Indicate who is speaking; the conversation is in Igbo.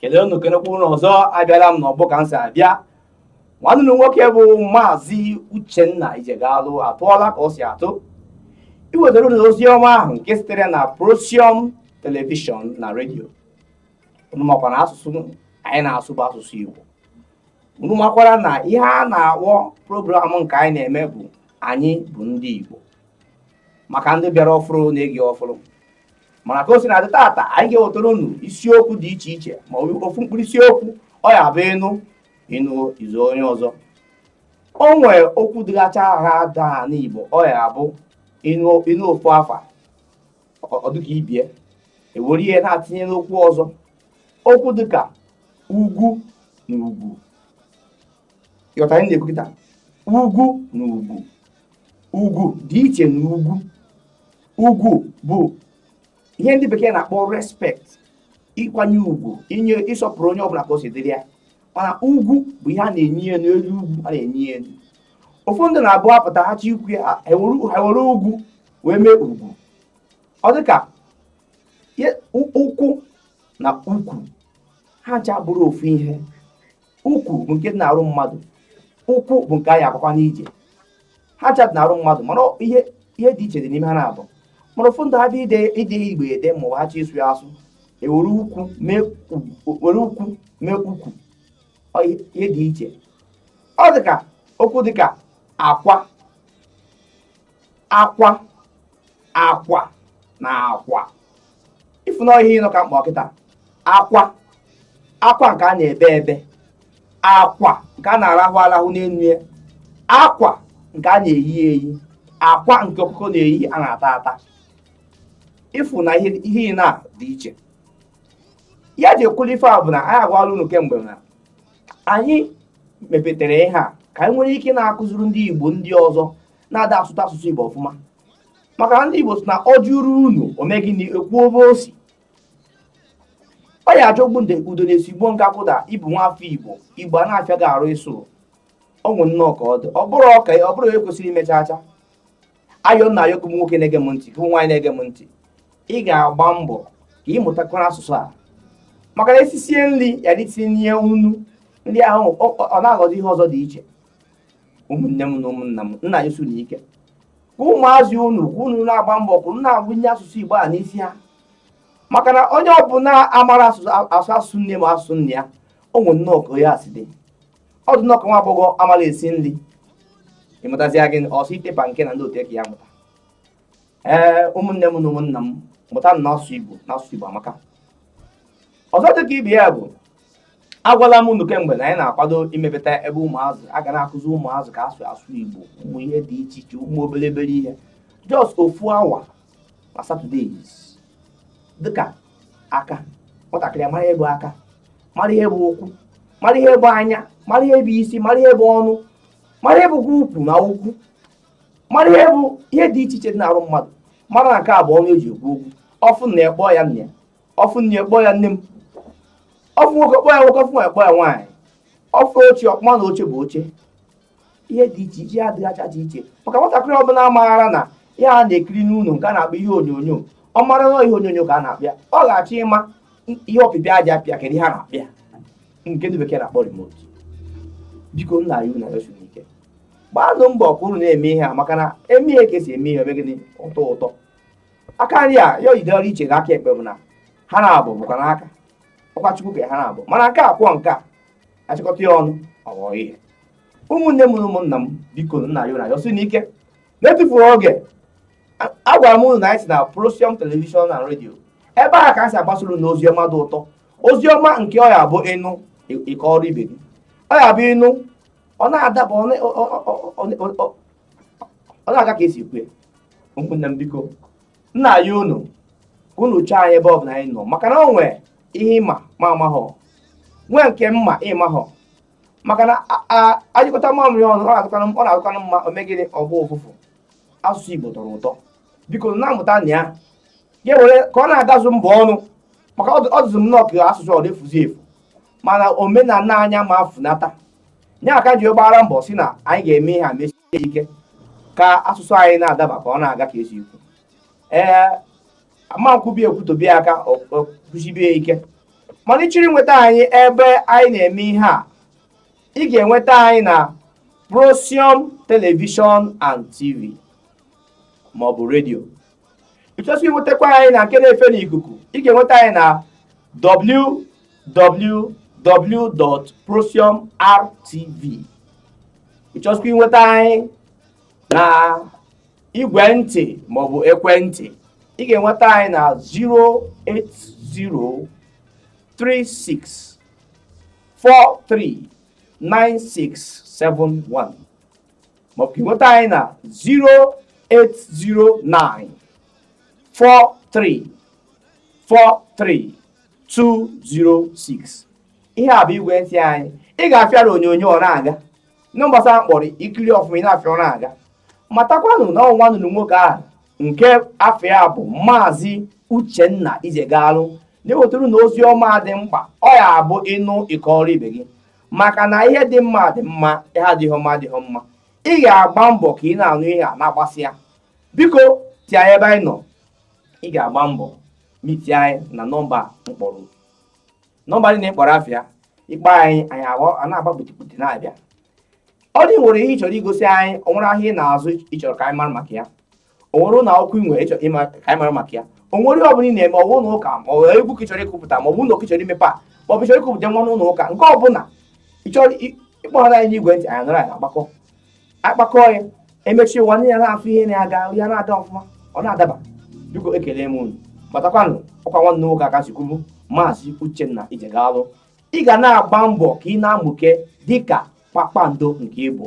Speaker 1: kelee unu kenekwa unu ọzọ abịala m n'ọgbọ ka m si abịa nwanne unu nwoke bụ maazị uchenna ijegalụ atụọla ka o si atụ iwetara unu ozi ọma ahụ nke sitere na prosium telivishọn na redio unu makwa na asụsụ anyị na-asụ bụ asụsụ igbo unu makwara na ihe a na-akpọ program nke anyị na-eme bụ anyị bụ ndị igbo maka ndị bịara ọfụrụ na-ege ọfụrụ mana ka o si na-adị tata anyị ga-ewetara unu isiokwu dị iche iche ma ofu mkpụrụ isiokwu ọ ya bụ ịnụ ịnụ izu onye ọzọ o nwee okwu dịgacha ha daa n'Igbo ọ ya bụ ịnụ ofu afa ọ dịka ibe ya e were ihe na-atinye n'okwu ọzọ okwu dịka ugwu na ugwu ị ghọta ihe m na-ekwu kịta ugwu na ugwu ugwu dị iche na ugwu ugwu bụ ihe ndị bekee na-akpọ respect ịkwanye ugwu inye ịsọpụrụ onye ọbụla ka o si dịrị ya mana ugwu bụ ihe a na-enyi ya n'elu ugwu a na-enyi ya elu ụfọdụ ndị na-abụ apụta ha chọ ikwu ya ha were ugwu wee mee ugwu ọ dịka ụkwụ na ukwu ha ncha bụrụ ofu ihe ukwu bụ nke dị n'arụ mmadụ ụkwụ bụ nke anyị agaga n'ije ha ncha dị n'arụ mmadụ mana ihe dị iche dị n'ime ha naabọ mana ụfọdụ ndị ha dị ide Igbo ede ma ọ ha chọ ịsụ ya asụ e were ukwu mee ụkwụ ihe dị iche ọ dị ka okwu dị ka akwa akwa akwa na akwa ị fụ na ihe ịnọ ka m kpọ kịta akwa akwa nke a na-ebe ebe akwa nke a na-arahụ arahụ n'elu ya akwa nke a na-eyi eyi akwa nke ọkụkọ na-eyi a na-ata ata ị fụ na ihe ịnọ a dị iche ihe e ji ekwulu ife a bụ na anyị agwala unu kemgbe na anyị mepetere ihe a ka anyị nwere ike na-akụziri ndị Igbo ndị ọzọ na-ada asụta asụsụ Igbo ọfụma maka na ndị Igbo sị na ọ jụrụ unu ome gịnị ekwu obe osi ọ ya ajọgbu udene sigbuo nkakwụ na ị bụ nwa afọ Igbo Igbo a na-afịa gị arụ ịsụrụ o nwe nnọọ ka ọ dị ọ bụrụ ọka ọ bụrụ ekwesịrị imecha acha ayọ m na-ayọ gị nwoke na-ege m ntị gị nwaanyị na-ege m ntị ị ga-agba mbọ ka ị mụtakwara asụsụ a maka na e sisie nri ya adị etinye nnu nri ahụ ọ na-aghọzi ihe ọzọ dị iche ụmụnne m na ụmụnna m m na-ayọsi unu ike ka ụmụazị unu ka unu na-agba mbọ ka unu na-agụnye asụsụ igbo a n'isi ha maka na onye ọbụla amara asụ asụsụ nne ma asụsụ nna ya o nwere nnọọ ka onye a si dị ọ dị nnọọ ka nwa agbọghọ amara esi nri ịmụtazia gị ọsọ itepa nke na ndị otu eke ya mụta ee ụmụnne m na ụmụnna m mụtanụ asụsụ igbo na asụsụ igbo amaka ọzọ dị ka ibe ya bụ agwala m unu kemgbe na anyị na-akwado imepụta ebe ụmụazị a ga na-akụzi ụmụazị ka esi asụ igbo ụmụ ihe dị iche iche ụmụ obere obere ihe just ofu awa na saturdays dịka aka nwatakịrị mara ihe bụ aka mara ihe bụ ụkwụ mara ihe bụ anya mara ihe bụ isi mara ihe bụ ọnụ mara ihe bụkwa ukwu na ụkwụ mara ihe bụ ihe dị iche iche dị n'arụ mmadụ mara na nke a bụ ọnụ eji ekwu okwu ọ fụ nna ya kpọọ ya nna ya ọ fụ nne ya kpọọ ya nne m ọ fụ nwoke kpọọ ya nwoke ọ fụ nwaanyị kpọọ ya nwaanyị ọ fụ oche ọkpụma na oche bụ oche ihe dị iche iche dịgacha dị iche maka nwatakịrị ọbụla maara na ihe a na-ekiri n'ụlọ nke a na-akpọ ihe onyonyo ọ mara na ihe onyonyo ka a na-akpọ ya ọ ga-achọ ịma ihe ọpịpị a ja-apị a kedu ihe a na-akpọ ya nke ndị bekee na-akpọ remote biko m na-ayọ unu na-ayọsi unu ike gbaanụ mbọ ka unu na-eme ihe a maka na e mee ihe ka esi eme ihe o mee gịnị ọ tọọ ụtọ aka nri a ya oyide ọrụ iche n'aka ekpe mana ha naabọ bụkwanụ aka ọkwa chukwu kere ha naabọ mana nke a kwọọ nke a achịkọta ya ọnụ ọ ghọọ ihe ụmụnne m na ụmụnna m biko m na-ayọ unu na-ayọsi unu ike na-etufurọ oge agwara m unu na anyị si na Prosium Television na redio ebe a ka a si agbasara unu ozi ọma dị ụtọ ozi ọma nke ọ ya bụ ị nụ ị kọọrọ ibe gị ọ ya bụ ị nụ ọ na-adaba ọ na-aga ka esi ekwu ụmụnne m biko m na-ayọ unu ka unu chọọ anyị ebe ọ bụla anyị nọ maka na o nwere ihe ị ma m amahọ nwee nke m ma ị mahọ maka na a nyụkọta mamịrị ọnụ ọ na-adịkwanụ mma o mee gịnị ọ gbọọ ụfụfụ asụsụ Igbo tọrọ ụtọ biko na-amụtanụ ya ya were ka ọ na-agazu mbọ ọnụ maka ọ dịzị m nnọọ ka asụsụ ọ na-efuzi efu mana omenala anyị ama funata ya ka m ji gbara mbọ sị na anyị ga-eme ihe a mesie ike ka asụsụ anyị na-adaba ka ọ na-aga ka esi ekwu ee amankwubi ekwutobi aka kwụsibie ike mana ị chọrọ inweta anyị ebe anyị na-eme ihe a ị ga-enweta anyị na Prosium Television and TV maọbụ redio ịchọsị inwetakwa anyị na nke na-efe n'ikuku ị ga-enweta anyị na www.procyonrtv ịchọsịkwa inweta anyị na igwe ntị maọbụ ekwentị ị ga-enweta anyị na 08036439671 maọbụ ka ịnweta anyị na 0809 43 43 206 ihe a bụ igwe ntị anyị ị ga-afụ ya na onyonyo ọ na-aga na gbasara mkpọrọ i kiri ọfụma ị na-afụ ya ọ na-aga matakwanụ na ọ nwanne unu nwoke ahụ nke afa ya bụ maazị uchenna ijegalụ na-ewetara unu ozi ọma dị mkpa ọ ya-abụ ị nụ ị kọọrọ ibe gị maka na ihe dị mma dị mma ihe adịghị mma adịghị mma ị ga-agba mbọ ka ị na-anụ ihe a na-agbasị ya biko tie anyị ebe anyị nọ ị ga-agba mbọ mitie anyị na nọmba m kpọrọ nọmba ndị m kpọrọ afa ya ị kpọọ anyị anyị a na-agba kputikputi na-abịa ọ dị nwere ihe ị chọrọ igosi anyị ọ nwere ahịa ị na-azụ ị chọrọ ka anyị mara maka ya o nwere ụlọ akwụkwọ ị nwere ịchọ ịma ka anyị mara maka ya o nwere ihe ọ bụla ị na-eme ọwụ ụlọ ụka ma ọ egwu ka ị chọrọ ịkụpụta ma ọ bụ ụlọ ka ị chọrọ imepe a ma ọ bụ chọrọ ịkụpụta nwa n'ụlọ ụka nke ọ bụla ị chọrọ ị kpọrọ anyị n'igwe ntị anyị nọrọ anyị akpakọ akpakọ ya emechi ụwa ndị ya na-afụ ihe na-aga ya na-ada ọfụma ọ na-adaba biko ekele m unu matakwanụ ọkwa nwanne nwoke aka si kwubu maazị Uchenna Ijegalụ ị ga na-agba mbọ ka ị na-amụke dịka kpakpando nke ị bụ